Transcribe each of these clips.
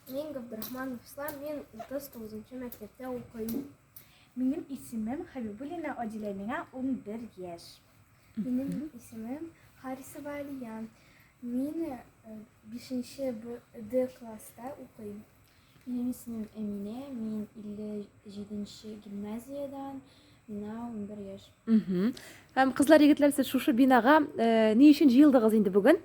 Мин Габдрахманов Ислам, мин 39-нчы мәктәптә укыйм. Минем исемем Хәбибуллина Адилә, миңа 11 яшь. Минем исемем Харисова Алия. Мин 5-нче Д класста укыйм. Минем исемем Эмине, мин 57-нче гимназиядән, миңа 11 яшь. Угу. Һәм кызлар, егетләр, сез шушы бинага э, ни өчен җыелдыгыз инде бүген?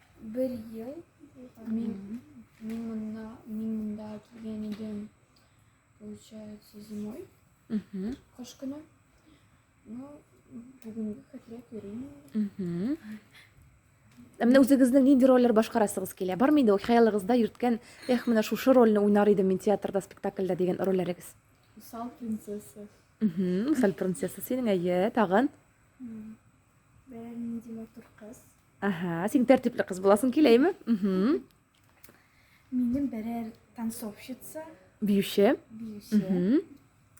Бер ел мин, мин, монда, мин монда килгән идем, получается, зимой, кыш көне. Ну, бүгінгі хәтерләп йөрмим. Ә менә үзегезнең нинди рольләр башкарасыгыз килә? Бар миде ул хыялыгызда йөрткән, эх, менә шушы рольне уйнар идем мин театрда, спектакльдә дигән рольләрегез? Усал принцесса. Усал принцесса синең әйе, тагын? Бәләр нинди матур кыз. Ага, син тәртипле кыз буласың киләйме? Угу. Минем берәр танцовщица. Биюче. Биюче. Угу.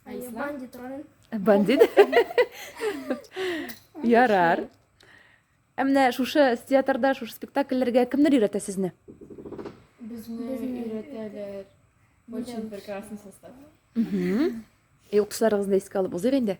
Ә бандит ролен. Бандит. Ярар. Ә менә шушы театрда, шушы спектакльләргә кемнәр өйрәтә сезне? Безне өйрәтәләр. Очень прекрасный состав. Угу. Юктышларыгызны искә алып узыйк инде.